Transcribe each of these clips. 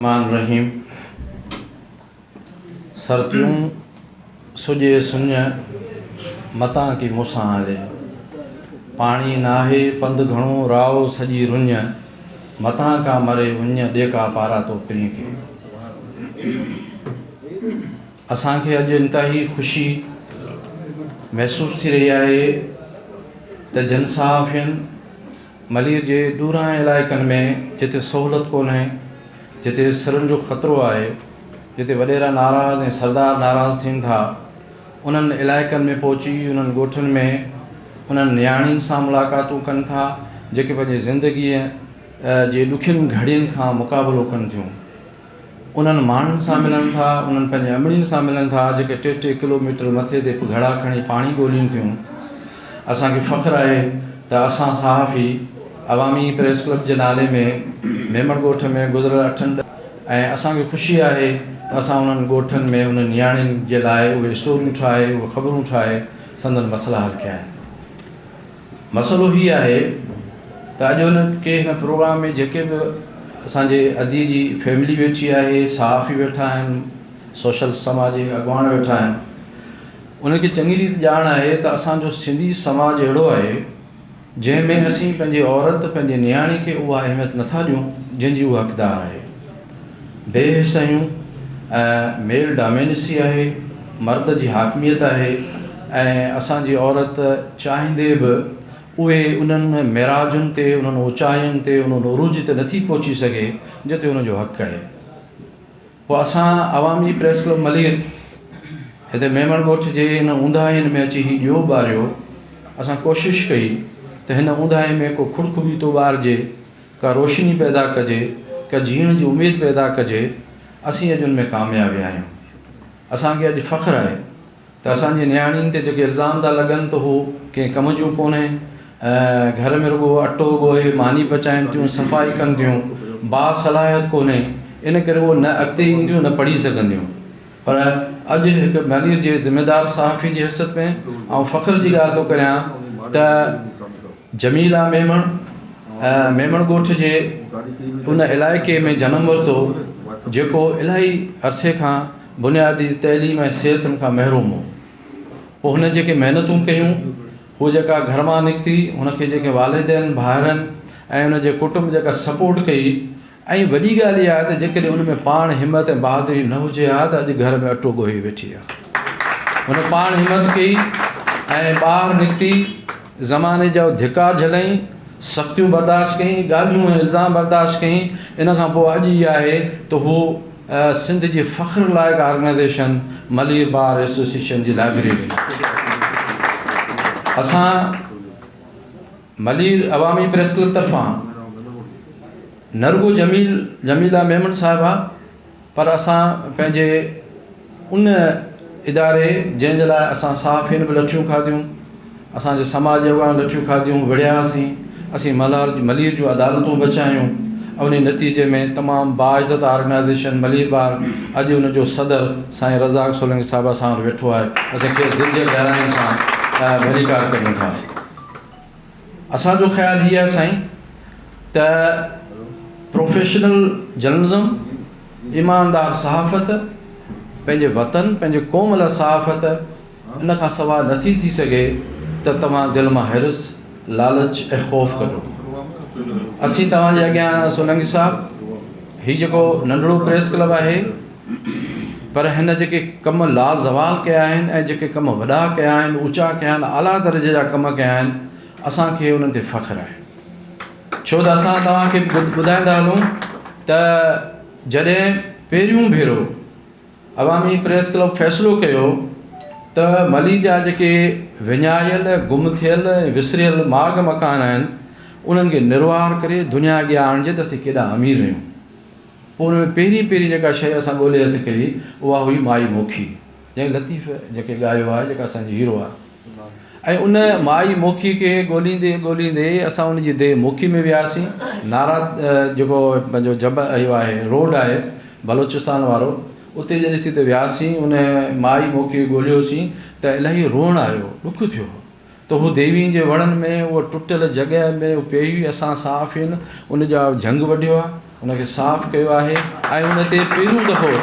الرحمٰن الرحيم سرتيون سڄي سڃ متان ڪي مون سان هلي پاڻي ناهي پنڌ گهڻو راو سڄي رڃ متان ڪا مري وڃ ڏيڪا پارا تو پرين ڪي اسان کي اڄ انتهائي خوشي محسوس ٿي رهي آهي ته جن صحافين ملير جي ڏورانهين علائقن ۾ جتي سهولت ڪونهي، جتي سرن جو خطرو آهي، جتي وڏيرا ناراض ۽ سردار ناراض ٿين ٿا، انهن علائقن ۾ پهچي انهن ڳوٺن ۾ انهن نياڻين سان ملاقاتون ڪن ٿا، جيڪي پنهنجي زندگيء جي ڏکين گهڙين کان مقابلو ڪن ٿيون. انهن ماڻهن سان ملن ٿا، انهن پنهنجي امڙين سان ملن ٿا جيڪي ٽي ٽي ڪلو ميٽر مٿي تي گهڙا کڻي پاڻي ڳولين ٿيون. اسان کي فخر آهي ته اسان صحافي عوامي پريس ڪلب جي نالي ۾ ميمڻ ڳوٺ ۾ گذريل اٺن ڏهن ۽ اسان کي خوشي آهي ته اسان انهن ڳوٺن ۾ انهن نياڻين جي لاء اهي اسٽوريون ٺاهي، اهي خبرون ٺاهي سندن مسئلا حل ڪيا آهن. مسئلو هي آهي ته اڄ هن کي هن پروگرام ۾ جيڪي به اسان جي ادي جي فيملي ويٺي آهي، صحافي ويٺا آهن، سوشل سماجي اڳواڻ ويٺا آهن، انهن کي چڱي ريت ڄاڻ آهي ته اسان جو سنڌي سماج اهڙو آهي جنهن ۾ اسين پنهنجي عورت، پنهنجي نياڻي کي اها اهميت نٿا ڏيون جنهن جي هوء حقدار آهي. بي حسيون ۽ ميل ڊامينسي آهي، مرد جي حاڪميت آهي ۽ اسان جي عورت چاهيندي به اهي انهن معراجن تي، انهن اوچاين تي، ان عروج تي نٿي پهچي سگهي جنهن تي ان جو حق آهي. پوء اسان عوامي پريس ڪلب ملير هتي ميمڻ ڳوٺ جي ان اونداهين ۾ اچي هي ڏيئو ٻاريو، اسان ڪوشش ڪئي ته هن اونداهي ۾ ڪو کڙکٻيتو ٻارجي ڪا روشني پيدا ڪجي، ڪا جيئڻ جي اميد پيدا ڪجي، اسين اڄ ان ۾ ڪامياب ويا آهيون. اسان کي اڄ فخر آهي ته اسان جي نياڻين تي جيڪي الزام ٿا لڳن ته هو ڪنهن ڪم جون ڪونهي، گهر ۾ رڳو اٽو ڳوهي ماني پچائين ٿيون، صفائي ڪن ٿيون، باصلاحيت ڪونهي، ان ڪري هو نه اڳتي اينديون نه پڙهي سگهنديون. پر اڄ هڪ ميليء جي ذميدار صحافي جي حيثيت ۾ آئون فخر جي ڳالهه ٿو ڪريان ته جميله ميمڻ ميمڻ ڳوٺ جي ان علائقي ۾ جنم ورتو جيڪو الاهي عرصي کان بنيادي تعليم ۽ صحت کان محروم هو پوء هن جيڪي محنتون ڪيون هو جيڪا گهر مان نڪتي هن کي جيڪي والدين ڀائرن ۽ ان جي ڪٽنب جيڪا سپورٽ ڪئي ۽ وڏي ڳالهه اها آهي ته جيڪڏهن ان ۾ پاڻ همت ۽ بهادري نه هجي ها ته اڄ گهر ۾ اٽو ڳوهي ويٺي ها هن پاڻ همت ڪئي ۽ ٻاهر نڪتي زماني جا ڌڪا جهليائين، سختيون برداشت ڪيائين، ڳالهيون ۽ الزام برداشت ڪيائين، ان کان پوء اڄ اها آهي ته هو سنڌ جي فخر لائق آرگنائيزيشن ملير بار ايسوسيئيشن جي لائبريرين آهي. اسان ملير عوامي پريس ڪلب طرفان نه رڳو جميل جميله ميمڻ صاحبه، پر اسان پنهنجي ان اداري جنهن جي لاء اسان صحافين به لٺيون کاڌيون، اسان جي سماج جي اڳواڻن لٺيون کاڌيون، وڙهياسين، اسين ملهار ملير جون عدالتون به بچايون ۽ انهي نتيجي ۾ تمام باعزت آرگنائيزيشن ملير بار اڄ ان جو صدر سائين رزاق سولنگي صاحب اسان وٽ ويٺو آهي، اسين کيس دل جي گهراين سان ڀليڪار ڪريون ٿا. اسان جو خيال هي آهي سائين ته پروفيشنل جرنلزم، ايماندار صحافت، پنهنجي وطن پنهنجي قوم لاء صحافت ان کان سواء نٿي ٿي سگهي ته توهان دل مان حرص، لالچ ۽ خوف ڪڍو. اسين توهان جي اڳيان آهياسون ننگي صاحب هي جيڪو ننڍڙو پريس ڪلب آهي. پر هن جيڪي ڪم لازوال ڪيا آهن ۽ جيڪي ڪم وڏا ڪيا آهن، اوچا ڪيا آهن، اعليٰ درجي جا ڪم ڪيا آهن، اسان کي انهن تي فخر آهي. ڇو ته اسان توهان کي ٻڌائيندا هلون ته جڏهن پهريون ڀيرو عوامي پريس ڪلب فيصلو ڪيو ته ملي جا جيڪي وڃايل، گم ٿيل ۽ وسريل ماڳ مڪان آهن، انهن کي نروار ڪري دنيا اڳيان آڻجي ته اسين ڪيڏا امير آهيون. ان ۾ پهرين پهرين جيڪا شيء اسان ڳولي هٿ ڪئي، اها هئي مائي موکي، جنهن لطيف جيڪي ڳايو آهي، جيڪا اسان جي هيرو آهي. ۽ ان مائي موکي کي ڳوليندي ڳوليندي اسان ان جي ديهه موکي ۾ وياسين. نارا جيڪو پنهنجو جبل اهو آهي، روڊ آهي بلوچستان وارو، اتي جڏهن اسين اتي وياسين، ان مائي موکي کي ڳوليوسين ته الاهي روئڻ آيو، ڏک ٿيو. ته هو ديوين جي وڻن ۾ اهو ٽٽل جڳهه ۾ اهو پيئي هئي اسان صحافين ان جا جهنگ وڍيو آهي ان کي صاف ڪيو آهي ۽ ان تي پهريون دفعو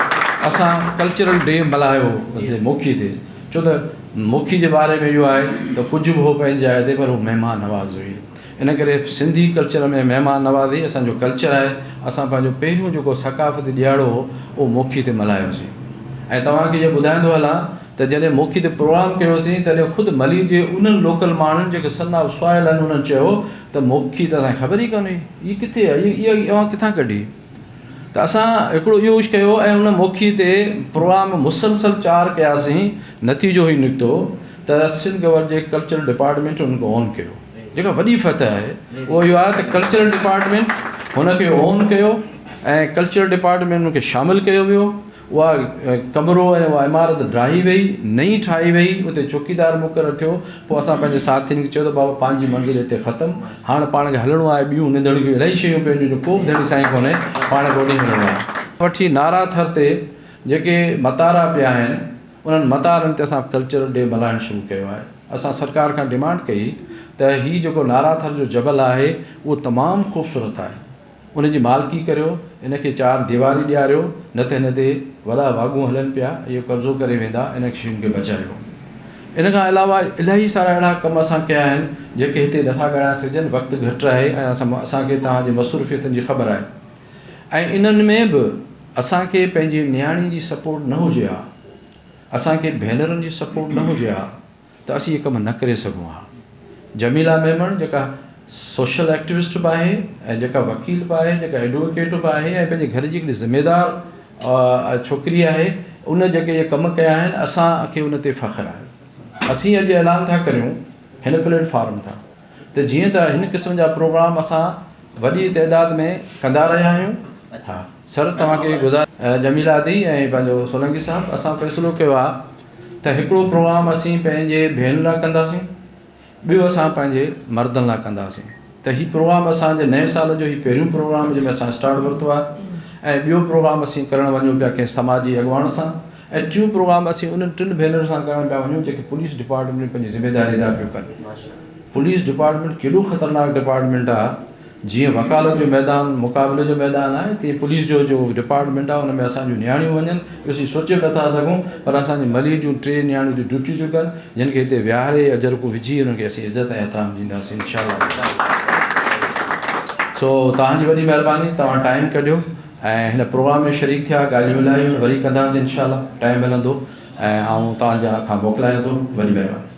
اسان ڪلچرل ڊي ملهايو هو موکي تي ڇو ته موکي جي باري ۾ اهو آهي ته ڪجهه به هو پنهنجي جاء تي پر هو مهمان نواز هئي. ان ڪري سنڌي ڪلچر ۾ مهمان نوازي اسان جو ڪلچر آهي اسان پنهنجو پهريون جيڪو ثقافتي ڏيهاڙو هو اهو موکي تي ملهايوسين ۽ توهان کي اهو ٻڌائيندو هلان ته جڏهن موکي تي پروگرام ڪيوسين تڏهن خود ملير جي انهن لوڪل ماڻهن جيڪي سن آف سوائل آهن انهن چيو ته موکي ته اسان کي خبر ئي ڪانهي هي ڪٿي آهي هي اوهان ڪٿان ڪڍي ته اسان هڪڙو اهو ڪجهه ڪيو ۽ ان موکي تي پروگرام مسلسل چار ڪياسين نتيجو هي نڪتو ته سنڌ گورنمينٽ جي ڪلچرل ڊپارٽمينٽ ان کي آن ڪيو جيڪا وڏي فتح آهي اهو اهو آهي ته ڪلچرل ڊپارٽمينٽ هن کي اون ڪيو ۽ ڪلچرل ڊپارٽمينٽ هن کي شامل ڪيو ويو اها ڪمرو ۽ اها عمارت ڊاهي وئي نئين ٺاهي وئي اتي چوڪيدار مقرر ٿيو پوء اسان پنهنجي ساٿين کي چيو ته بابا پنهنجي منزل هتي ختم هاڻ پاڻ کي هلڻو آهي ٻيون ننڌڻيون الائي شيون پيون هجن جو ڪو به ڌڻي سائين ڪونهي پاڻ کي اوڏي هلڻو آهي وٺي نارا ٿر تي جيڪي متارا پيا آهن انهن متارن تي اسان ڪلچرل ڊي ملهائڻ شروع ڪيو آهي. اسان سرڪار کان ڊيمانڊ ڪئي ته هي جيڪو نارا ٿر جو جبل آهي اهو تمام خوبصورت آهي ان جي مالڪي ڪريو ان کي چار ديواري ڏياريو نه ته هن تي وڏا واڳون هلن پيا ۽ اهي قبضو ڪري ويندا انهن شين کي بچايو. ان کان علاوه الائي سارا اهڙا ڪم اسان ڪيا آهن جيڪي هتي نٿا ڳڻائي سگهجن وقت گهٽ آهي ۽ اسان کي توهان جي مصروفيتن جي خبر آهي. ۽ انهن ۾ به اسان کي پنهنجي نياڻي جي سپورٽ نه هجي ها اسان کي ڀينرن جي سپورٽ نه هجي ها ته اسين اهي ڪم نه ڪري سگهون ها جميلا ميمڻ جيڪا سوشل ايڪٽيوسٽ به آهي ۽ جيڪا وڪيل به آهي جيڪا ايڊووڪيٽ به آهي ۽ پنهنجي گهر جي هڪڙي ذميدار ڇوڪري آهي ان جيڪي اهي ڪم ڪيا آهن اسان کي ان تي فخر آهي اسين اڄ اعلان ٿا ڪريون هن پليٽ فارم تان ته جيئن ته هن قسم جا پروگرام اسان وڏي تعداد ۾ ڪندا رهيا آهيون ها سر توهان کي گذار جميلا دي ۽ پنهنجو سولنگي صاحب اسان فيصلو ڪيو آهي ته هڪڙو پروگرام اسين پنهنجي ڀينرن لاء ڪنداسين ٻيو اسان پنهنجي مردن لاء ڪنداسين ته هي پروگرام اسان جي نئين سال جو هي پهريون پروگرام جنهن ۾ اسان اسٽارٽ ورتو آهي ۽ ٻيو پروگرام اسين ڪرڻ وڃون پيا ڪنهن سماجي اڳواڻ سان اهو پروگرام اسين انهن ٽن ڀينرن سان ڪرڻ پيا وڃون جيڪي پوليس ڊپارٽمينٽ ۾ پنهنجي ذميداري ادا پيون ڪن. پوليس ڊپارٽمينٽ ڪيڏو خطرناڪ ڊپارٽمينٽ آ جيئن وڪالت جو ميدان مقابلي جو ميدان آهي تيئن پوليس جو جو ڊپارٽمينٽ آ ان ۾ اسان جون نياڻيون وڃن اهو اسين سوچي به نٿا سگهون پر اسان جي ملير جون ٽي نياڻيون اتي ڊيوٽي ٿيون ڪن جن کي هتي ويهاري اجرڪو وجهي انهن کي اسين عزت ۽ احترام ڏينداسين انشاء الله سو توهان جي وڏي مهرباني توهان ٽائيم ڪڍيو ۽ هن پروگرام ۾ شريڪ ٿيا ڳالهيون لاهيون وري ڪنداسين انشاء الله ٽائيم ملندو ۽ آئون توهان جي کان موڪلايان ٿو وڏي مهرباني.